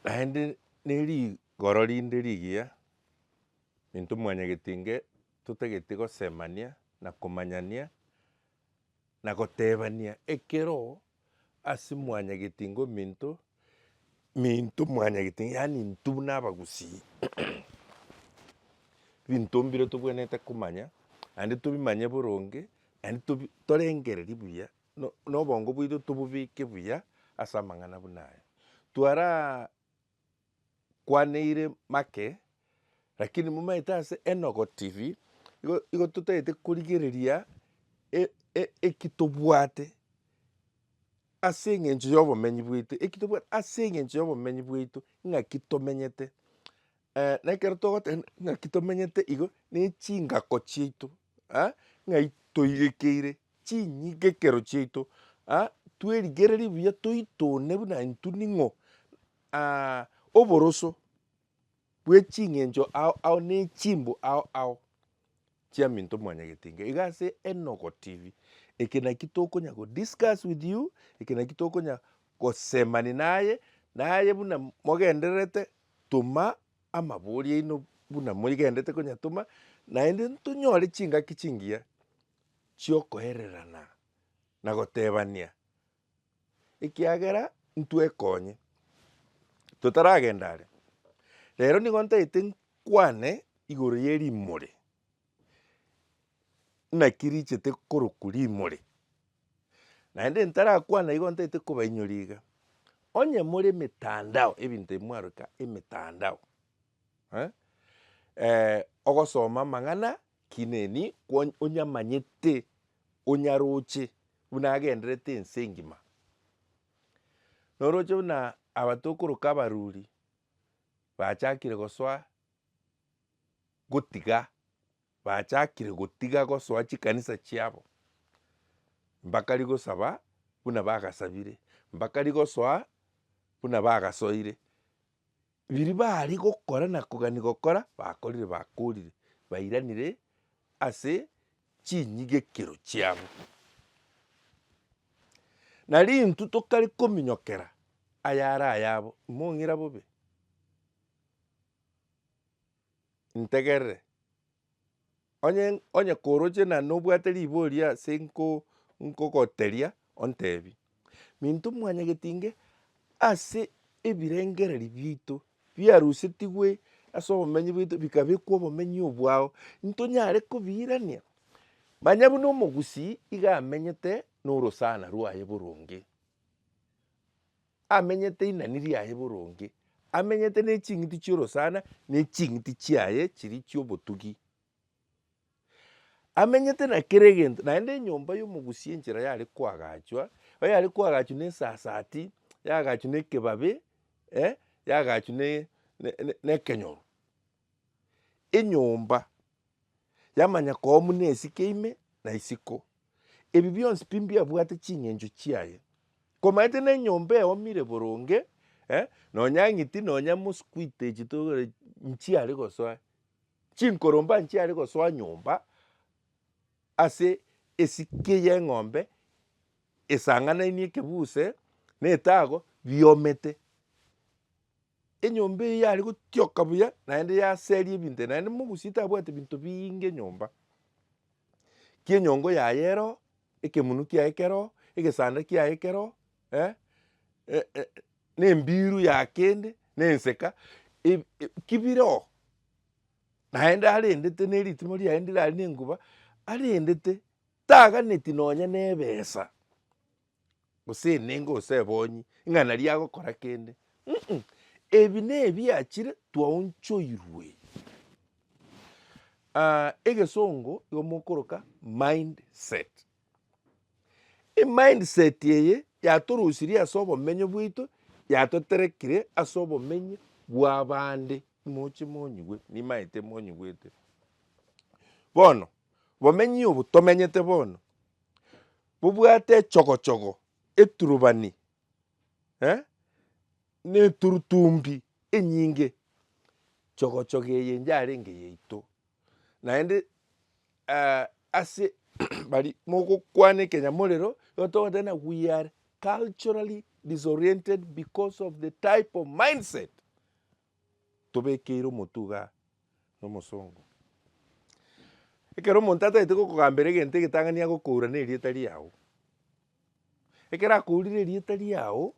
Naende nerigoro rinde rigiya, intwe mwanyagetinge totagete gosemania na komanyania na gotebania ekero ase mwanyagetinge ominto, minto mwanyagetinge yaani intwe buna abagusii binto mbire tobwenerete komanya naende tobimanye boronge naende torengererie buya na obongo bwaito tobobeke buya ase amang'ana buna aya. Twarakwaneire make, rakini momaete ase Enogo TV, igo igo totagete korigereria e- e- eki tobwate ase eng'encho ya obomenyi bwaito, eki tobwate ase eng'encho ya obomenyi bwaito ng'aki tomenyete. na ekero togoteba ng'aki tomenyete igo, ne chingako chiaito. aa ng'ai toirekeire chinyigekero chiaito aa twerigererie buya toitone buna intwe ning'o aa oboroso bwe ching'encho ao ao ne chimbo ao ao chia minto mwanyagete inga. Iga ase enogo tv eke naki tokonya go discuss with you, eke naki tokonya gosemania naye, naye buna mogendererete toma Amabori aino buna moigenderete konyatoma, naende ntonyore chingaki chingiya chiokoererana na gotebania, ekiagera ntwekonye totaragenda are. Rero nigo ntaete nkwane igoro ye rimori. naki richete korokwa rimori, naende ntarakwana igo ntaete kobainyora iga, onye more emetandao ebinto ebi mwaruka emetandao eh, ogosoma amang'ana kineni kwony onyamanyete onyaroche buna agenderete ense engima. Noroche buna aba tokoroka abaruri bachakire gosoa gotiga, bachakire gotiga gosoa chikanisa chiabo, mbakari gosaba buna bagasabire, mbakari gosoa buna bagasoire. Biri bari gokora na kogani gokora bakorire bakorire, bairanire ase chinyigekero chiabo. Nari intwe tokari kominyokera ayare ayabo, imong'ira bobe. ntegerere. Onye onye koroche na nobwate ribori ase nko- nkogoteria ontebi, minto mwanyageti inge ase ebirengereri biaito biarusetigwe ase obomenyi bwaito bikabekwa obomenyi obwao, ntonyare kobiirania manya buna omogusii iga amenyete norosana rwaye boronge. Amenyete inani riaye boronge, amenyete ne ching'iti chi'orosana ne ching'iti chiaye chiria chi'obotugi. Amenyete na kera egento, naende enyomba y'omogusia enchera yare koagachwa, oyare koagachwa ne esasati, yaagachwa ne ekebabe, eh, yaagachwa ne- ne- ne- nekenyoro. enyomba yamanya koo muna esike ime na isiko, ebi bionsi pi mbiabwate ching'encho chiaye. Komanyete nenyomba eomire boronge, eh, nonya ang'iti nonya mosquito echi togore nchiare gosoa, chinkoromba nchiare gosoa nyomba ase esike y'eng'ombe esang'anainie ekebuse na etago biomete. Enyomba eye yare gotioka buya, naende yaseria ebinto, naende mogusie tabwati binto biinge enyomba. Ki enyongo yaye ero, ekemunu kiaye kero, egesanda kiaye kero, eh, eh, eh, na embiru ya kende, na enseka, eb- eb- ki bire oo. Naende arendete na eritimo riaye ndirari na enguba, arendete, taganeti nonya na ebesa. gose enengo gose ebonyi ng'a naria agokora kende um. Ebi nebiachire twaonchoirwe egesongo igo mokoroka mind set. Emind set eye yatorosirie ase obomenyo bwaito yatoterekire ase obomenyo bwa abande moche monyigwe nimaete monyigwete. Bono obomenyo obo tomenyete bono Bobwate echogochogo, eturubani, na eturutumbi enyinge. Chogochogo eye yarenge yaito, naende ase bari mogokwana ekenyamo orero, igo togoteba ng'a we are culturally disoriented because of the type of mindset tobekeire omotuga nomosongo. Ekero omonto atagete gokogambera egento egetang'ani agokoura nerieta riao. Ekero akourire erieta riao,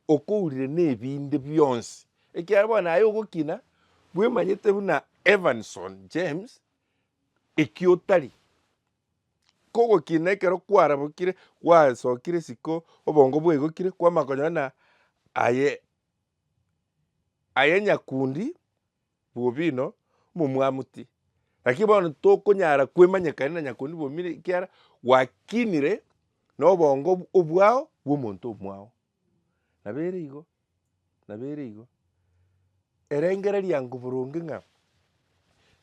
okourire nebinde bionsi. Ekiagera bono aye ogokina, bwemanyete buna Evanson James eki otari. Kogokina ekero kwarabokire, gwasokire isiko, obongo bwaigokire, kwamanya konyora buna aye Aye nyakundi bw'obino momwamuti, lakini bono tokonyara kwemanyekania na nyakundi bw'omino ekiara gwakinire nobongo obwao bw'omonto omwao. Nabere igo, nabere igo, erengereria ango boronge ng'a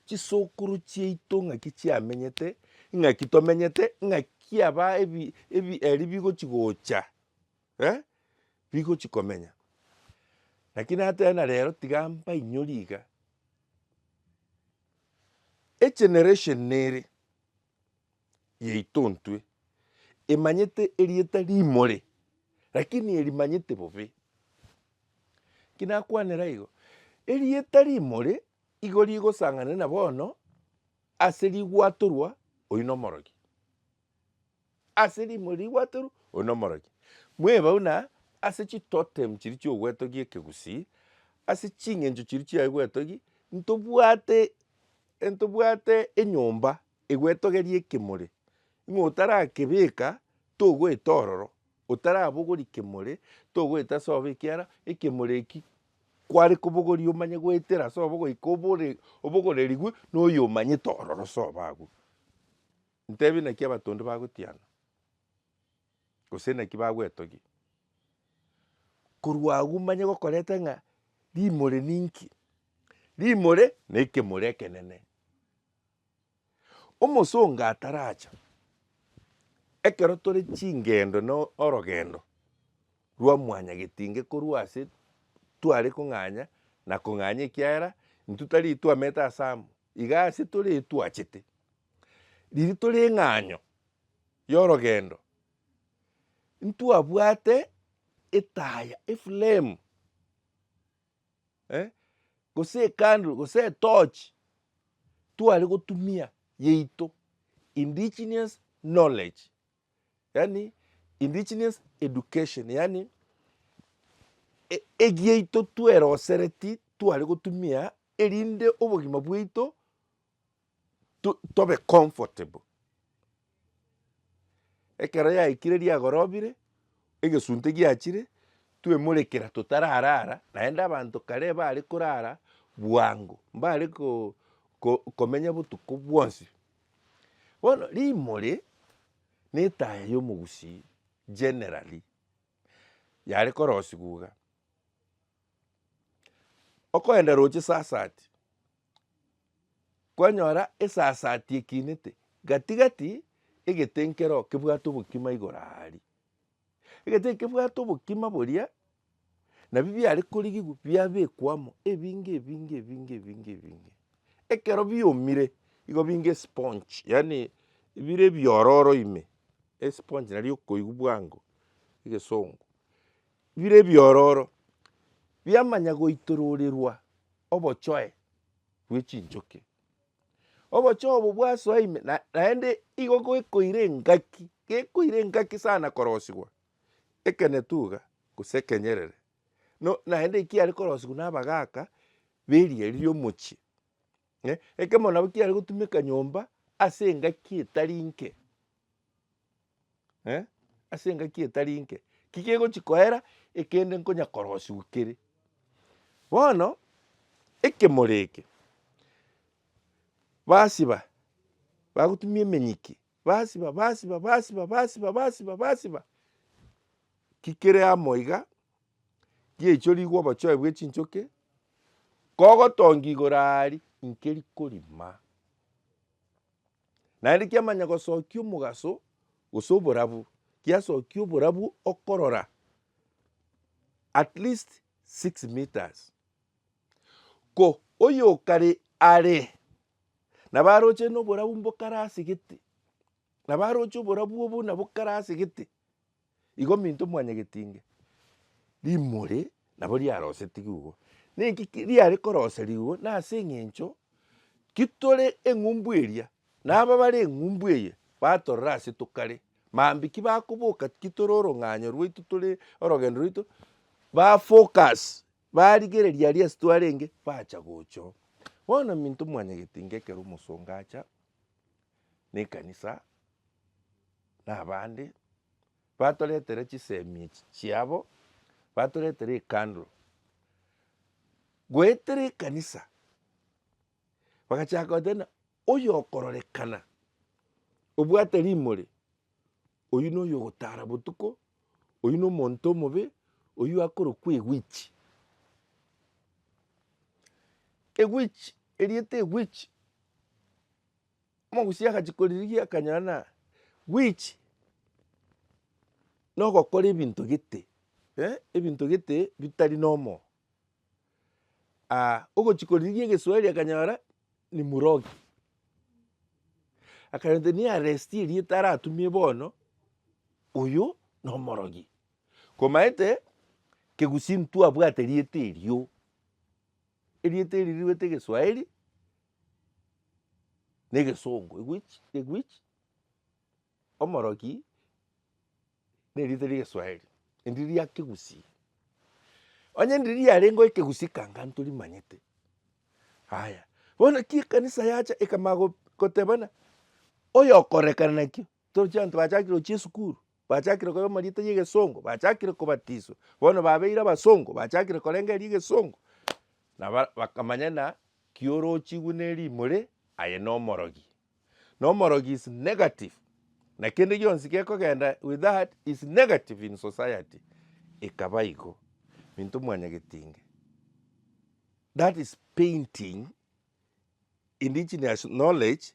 chisokoro chiaito ng'aki chiamenyete, ng'aki tomenyete, ng'aki aba ebi ebi ebi ebigochi gocha. eh, bigochi komenya. Lakini natebe na rero tiga mbainyori iga, egeneration ere yaito ntwe emanyete erieta rimore lakini erimanyete bobe. Ki nakwanera igo, erieta rimore igo rigosang'ananera bono ase rigwatorwa oyi nomorogi. ase rimo rigwatoru, oyo nomorokia. Mwebau na ase chitotem chiria chiogwetogia ekegusii, ase ching'encho chiria chiaye gwetogia, ntobwate ntobwate enyomba egwetogeria ekemore, ng'a otarakebeka togoeta ororo, otarabogori kemore togoeta ase obe ekiara ekemore ekio kware kobogoria omanye goetera ase obo goika obore obogorerigwe na oyomanyete ororo ase obo agwo. Ntebie naki abatonde bagotiana, gose naki bagwetogia. Korwa agwo manye gokoreta ng'a rimore ninki? Rimore nekemore ekenene. Omosongo ataracha, ekero tore chingendo na orogendo rwa mwanyagetinge korwa ase tware kong'anya na kong'anya ekiagera intwe tari twamete ase amo, iga ase tore etwachete. Ririto ring'anyo y'orogendo, ntwabwate etaya, eflame, eh, gose ekandro, gose etochi tware gotumia yaito, indigenous knowledge, yaani indigenous education, yaani e- egiaito twerosereti tware gotumia erinde obogima bwaito. to tobe comfortable. Ekero yaikire riagorobire, egesunte giachire, twemorekera totararara, naende abanto kare bare korara bwango, mbare ko- ko- komenya botuko bwonsi. Bono rimori, na etaya ya omogusii generally, yare korosiwa iga, okoenda roche saa sati. kwanyora esasaati ekinete gati gati egete nkero kebwate obokima igoro aaria. Egete nkebwate obokima boria nabi biare korigigwa biabekwa amo ebinge ebinge ebinge ebinge ebinge ekero biomire igo binge esponge yaani bire ebiororo ime esponge nario okoigwa bwango egesongo. bire ebiororo biamanya goitororerwa obochoe bwe chinchoki. Obochoe obo bwasoa ime na naende igo goekoire engaki gekoire engaki sana korosigwa ekenetuga gose ekenyerere no naende ekiare korosigwa na abagaka beriari riomochie ekemo nabo kiare gotumeka nyomba ase engaki etari inke. ase engaki etari nke, ki kegochi koera ekende nkonya korosiwa kere. Bono ekemoro eke, basiba bagotumia emenyiki, basiba basiba basiba basiba basiba basiba, ki kere amo iga, giaichorigwe obochoe bwe chinchoki, kogotongia igoro aria, inki rikorima. Naende kiamanya gosokia omogaso, gose oborabu, kiasokia oborabu okorora at least six metres. Ko oyokare are nabo aroche noborabu mbokare as'egete, nabo aroche oborabu obo nabokare as'egete. Igo ominto mwanyagetinge rimori nabo riarosetigwe igo. Ninki riare koroserigwa igo? Nase eng'encho kitore eng'umbu eria, na aba bare eng'umbu eye batorora ase tokare, mambia ki bakoboka ki tore orong'anyo rwaito tore orogendo rwaito, ba focus, barigereria aria ase twarenge bacha gocha oo. Bono ominto mwanyagetinge ekero omosongo acha. nekanisa na abande batoretera chisemi echi chiabo batoretera ecandle goetera ekanisa bagachaka goteba oyo okororekana obwate rimori oywo noyo ogotara botuko oywo no omonto omobe oywo akorokwa ewitch. Ewitch erieta ewitch. Omogusia agachia koririgia akanyora ng'a which nogokora ebinto gete ebinto gete bitari normal ogochia koririgia egeswahili akanyora ni murogi akanyora the nearest erieta aratumie bono oyo nomorogi komaete kegusii intwe twabwate erieta erio erieta erio riruete egeswahili. negesongo language omoroki nerita riegeswahili endi ria kegusii onye ndi riarenge ekegusii kanga ntorimanyete haya bono ki ekanisa yacha ekamanya gotebana oyokorekana nakio torochia abanto bachakire gochia esukuru Bachakire koirwa amarieta y'egesongo, bachakire kobatiswa, bono babeire abasongo, bachakire korenga eria egesongo, na ba- bakamanya ng'a ki orochigwe na erimore, aye na omorogi. Na omorogi is negative, na kende gionsi gekogenda with that is negative in society, ekaba igo. Minto mwanya getinge, that is painting indigenous knowledge.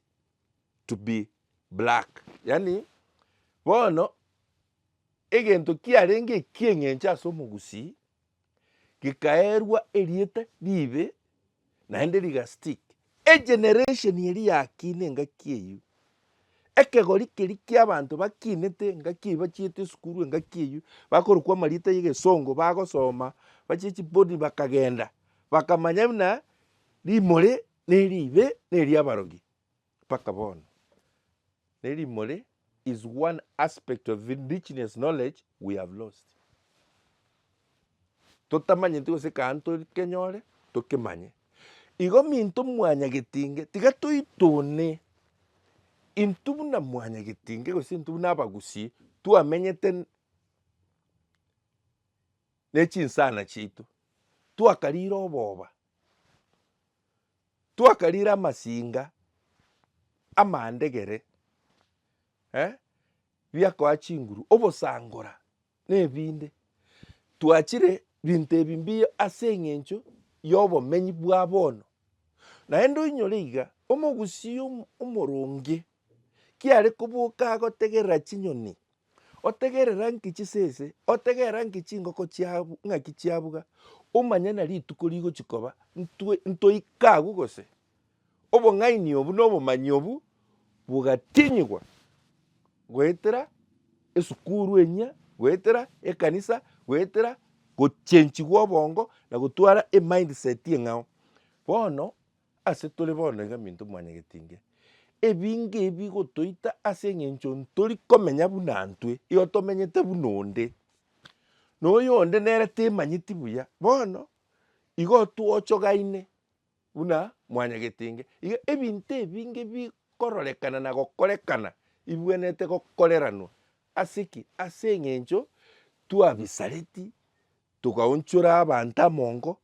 to be black. Yaani bono egento kiarenge ekieng'encho ase omogusii gekaeerwa erieta riibe naende riga stick. Egeneration eria yakiina engaki eyio, ekegori keria kia abanto bakiinete engaki eyio bachiete esukuru engaki eyio bakorokwa amarieta ya egesongo bagosoma bachia chibodi bakagenda bakamanya buna rimori. Ne ribe neria abarogi mpaka bono. Ne rimori is one aspect of indigenous knowledge we have lost. Totamanyeti gose ekero tokenyore tokemanye. Igo minto mwanyagetinge tiga toitune intwe buna mwanyagetinge gose intwe buna abagusii twamenyete ne chinsana chiaito twakarire oboba. Twakarire amasinga amandegere eh, biakoa chinguru, obosangora na ebinde. Twachire binto ebi mbuya ase eng'encho y'obomenyi bwa bono. Naende oinyore iga, omogusii omoronge kiare koboka agotegerera chinyoni Otegerera nki chisese? Otegerera nki chingoko chiabu ng'aki chiabuga? Omanye na rituko rigochi koba ntwe ntoika agwo gose? Obong'aini obu na obomanyi obu bogatinyigwa goetera esukuru enyia, goetera ekanisa, goetera gochenchigwa obongo na gotwara emind set eng'ao. Bono Ase tore bono iga minto mwanyagete inge, ebinge ebi bigotoita ase eng'encho ntori komenya buna ntwe, igo tomenyete buna onde, na oyo onde nere temanyeti buya. Bono igo twochogaine buna mwanyagete inge. Iga ebinto ebinge bikororekana na gokorekana bibwenerete gokoreranwa ase ki? Ase eng'encho twabisareti Togaonchora abanto amongo,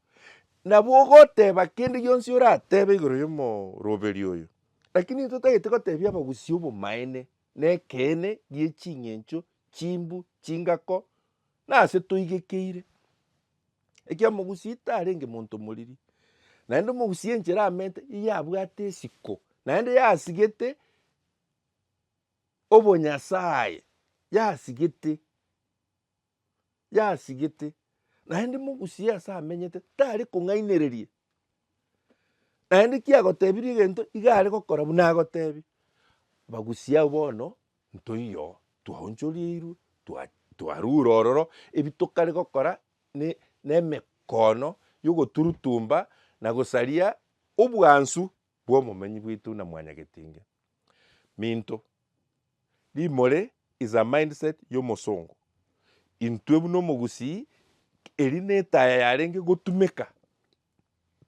na bogoteba kende gionsi oratebe igoro y'omoroberi oyo, lakini intwe totagete gotebia abagusii obomaene na ekeene gie ching'encho, chimbu, chingako, na ase toigekeire. Ekiagera omogusii tarenge monto moriri, naende omogusii enchera amerete nigo abwate esiko, naende yasigete obonyasae, yasigete. yasigete, naende mogusie ase amenyete tari kong'ainereria, naende kiagotebirie egento iga are gokora buna agotebia. Bagusia abwo bono ntoiyo twaonchoreirwe twa- twarure ororo, ebi tokare gokora ne- nemekono yogoturutumba na gosaria obwansu. bw'obomenyi bwaito na Mwanyagetinge. Minto, rimore is a mindset y'omosongo. Intwe buna omogusii, eri netaya yarenge gotumeka,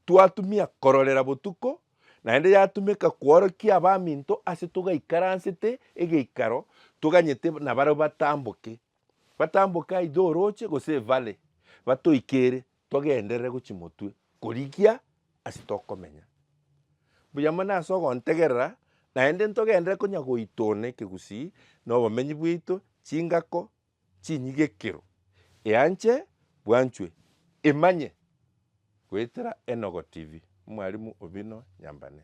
twatumia kororera botuko, naende yatumeka kworokia abaminto ase togaikaransete egeikaro toganyete nabarabwo batamboke. Batamboke aidha oroche gose evale batoikere Togenderere gochia motwe korigia ase tokomenya mbuya mono ase ogontegerera, naende ntogenderere konya goita one ekegusii na obomenyi bwaito, chingako, chinyigekero, eanche, bwanchwe, emanye. Goetera Enogo TV, Mwalimu Obino Nyambane.